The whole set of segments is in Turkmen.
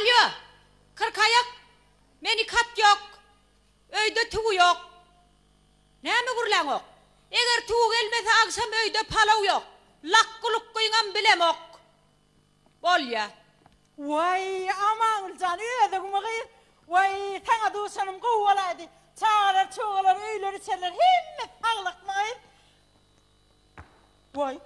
Alýo! Kyrkaýak! Men iki at ýok. Öýde tüwi ýok. Näme gürläňok? Eger tüwi gelmese agşam öýde palaw ýok. Lakgy-lukgyňam bilemok. Bolýa. Waý, Amangül jan, özüňmi gyz? Waý, saňa duşanym gowy bolaýdy. Çagalar-çugalar, öýler-içerler hemmesi saglykmy gyz? Woý,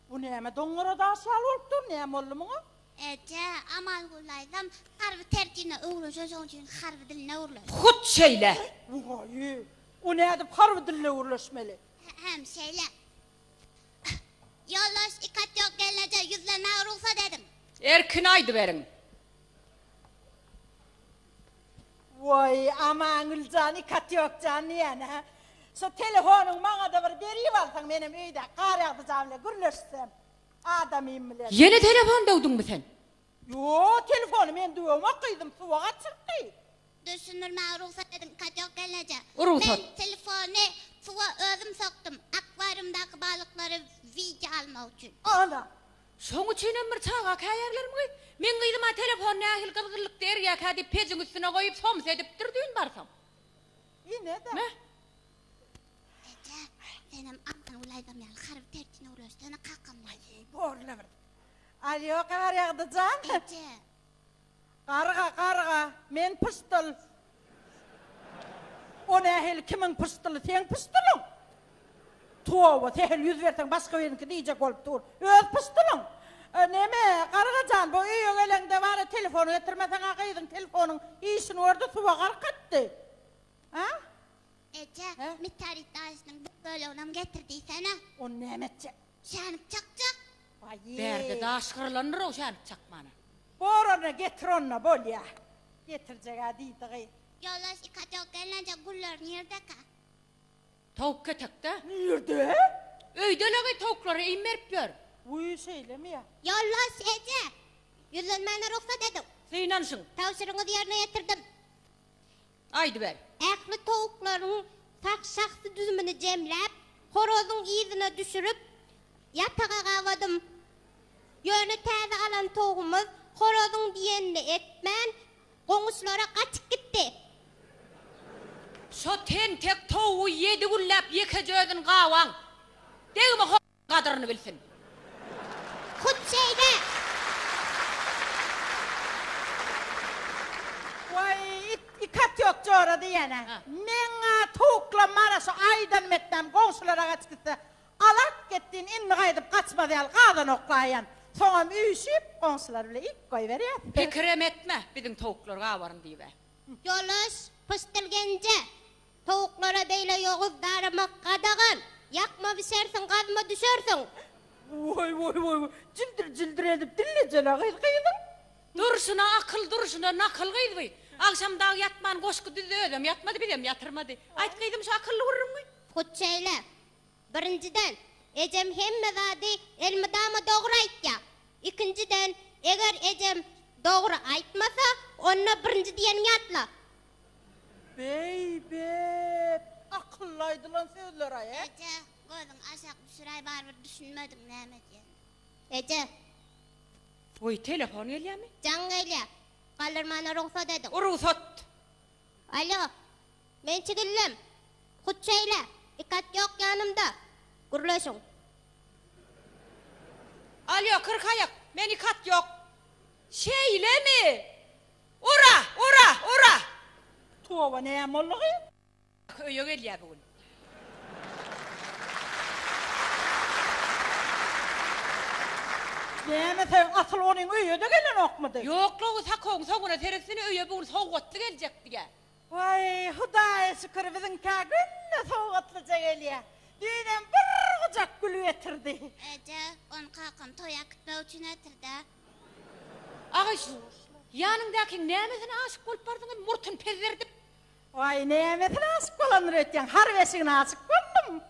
bu näme doňňara daş ýaly bolup dur, näme boldy muňa? Eje, Amalguly daýzam harby terjine öwrenşen, şonuň üçin harby diline gürleşdi. Hut şeýle! Woý, o nädip harby diline gürleşmeli? Hä-hem şeýle. Ýoldaş Ikatýok gelin eje, ýüzlenmäge rugsat ediň! Erkin aýdyberiň! Woý Amangüljan ikat ýok jan diýýänä. Şu telefonyňy maňada bir beribalsaň menem öýdäki garýagdyjam bilen gürleşsem adamym bilen. Ýene telefon döwdüňmi sen. Ýok telefony men döwemok gyzym suwa gaçyrypdy. Düşündirmäge rugsat ediň ikat ýok gelneje. Men telefony suwa özüm sokdum akwarýumdaky balyklary wideo almak üçin. Ana Şoň üçinem bir çaga käýärlermigy? Meň gyzym-a telefon nähili gyzgynlykda erýärkä diýip pejiň üstüne goýup soms edipdir düýn barsam. Ine-de. Mä. Eke, senem Altan Gülaýdam ýaly harby tertine öwrülsene kakamdan. Aý, borla bir. Alýo, Garýagdyjan! Eje, Garga, garga, men pyşdyl. O nähili kimiň pyşdyly, seň pyşdylyň? Toba, sähel ýüz berseň başga biriniňki diýjek bolup dur. Öz pyşdylyň. Neme, garga jan, bu öýe geleňde bari telefon getirmeseň-ä gyzyň telefonyň işini gördi, suwa gark etdi. A? Eje, He? mitarit daşynyň bir böleginem getir diýsene. Ony näme etjek? Şänik çakjak. Baýy. Bärde daş gyrlandyr-ow şänik çakmana. Borany getir onda bolýa. Getirjeg-ä diýdigy. Ýoldaş ika jok gelnejek gullar nirde-ka? Towuk ketekde. Nirde? Öýde-leý towuklara iým berip ýör. Wüý şeýlemi-ýa. Ýoldaş eje. Ýüzlenmäne rugsat ediň. Synanşyň. Tabşyrygyňyzy ýerine ýetirdim. Aýdyber. Ähli towuklaryň sag şahsy düzümini jemläp, horazyň yzyna düşürip, ýataga gabadym. Ýöne täze alan towugymyz horazyň diýenini etmän, goňuşlara gaçyp gitdi. Şo tentek towugy ýedi günläp ýekeje özüni gaban. Degme horazy! gadyryny bilsin. Hut şeýle! Waý, it, iki at ýok jora diýýän-ä. Meň-ä towuklam bar-a, şu aýdan metnäm goňşulara gaçyp gitse, Alat gitdiň, indi gaýdyp gaçmaz ýaly gazan oklaýan. Soňam üýşüp, goňşular bile iýip goýberýär. Pikirem etme, biziň towuklar gabaryn diýib-ä. Ýoldaş Pyşdylgenje! Towuklara beýle ýoguz daramak gadagan! Ýakma bişersiň, gazma düşersiň! Woý, woý, woý, woý! Jildir, jildir edip dillejesine gyz gyzyň! Durşuna akyl, durşuna nakyl gyz bu! Agşam dagy ýatman goşgy düzdi, özem ýatmady, bizem ýatyrmady. Aýt gyzym, şu akylly gürrüňi! Hut şeýle! Birinjiden, ejem hemme zady elmydama dogry aýtýar. Ikinjiden, eger ejem dogry aýtmasa, onda birinji diýeni ýatla. Beý, bet, akylly aýdylan sözler-aý, e? Eje, gözüňi aşak düşüräý, barybir düşünmediň näme diýen. Eje. Goý, telefon gelýärmi? Jaň gelýär. Galdyrmana rugsat ediň. Rugsat! Alo, Men çigellem, hut şeýle, iki at ýok ýanymda, gürleşiň. Alýo, kyrkaýak, men iki at ýok. Şeýlemi? Ura! Ura! Ura! Toba, näme boldugy? Öýe gelýär bu gün. Näme sen, asyl onuň öýe-de gelenokmydy? Ýok-la, o sakogyň soňuna seretsene, öýe bu gün sowgatly geljekdi-ä. Waý, Hudaýa şükür, biziňkä günde sowgatlyja gelýä. Düýnem bir gujak gül getirdi. Eje, ony kakam toý äkitmek üçin getirdi-ä. Agaş, ýanyňdakyň nämesine aşyk bolup bardyň hem murtuny pezderdip? Waý, nämesine aşyk bolandyr öýtýäň, harp eşigine aşyk boldum.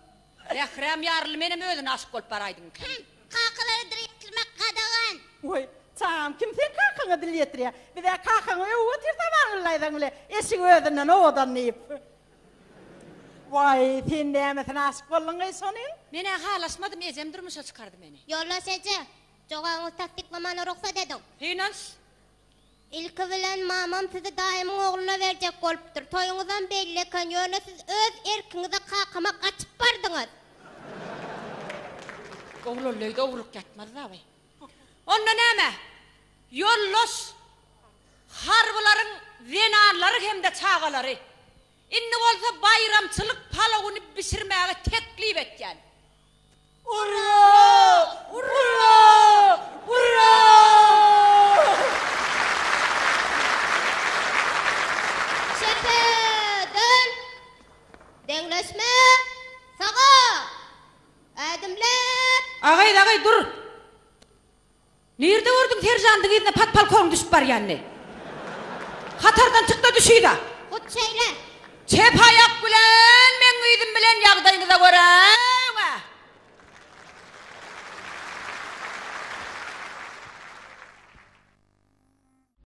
Mährem ýarly menem özüne aşyk bolup baraýdym kem. Kakalara dil ýetirmek gadagan. Woý, çagam, kim seň kakaňa dil ýetirýä? Biz-ä kakaňy öwüp otyrys Amangyllaýzaň bile, eşigi özünden owadan diýip. Woý, sen nämesine aşyk bolduňaý şonuň? Men-ä halaşmadym, ejem durmuşa çykardy meni. Ýoldaş eje, jogabyňyzy tassyklaman rugsat ediň. Synanç. Ilki bilen mamam sizi daýymyň ogluna berjek bolupdyr. Toýuňyzam belli eken, ýöne siz öz erkiňize kakama gaçyp bardyňyz. Oglanly öýde ogurlyk ýatmaz abaý. Onda näme? Ýoldaş harbylaryň zenanlary hem-de çagalary Indi bolsa baýramçylyk palawyny bişirmäge teklip etýän. Çepe, döl! Deňleşme, saga! Ädimle! Agaý, agaý, dur! Nirde gördüň seržandyň yzyna podpolkowyň düşüp barýanyny? Hatardan çyk-da düş yza! Hut şeýle! Çep aýak bilen meň yzym bilen ýagdaýyňyza görä we.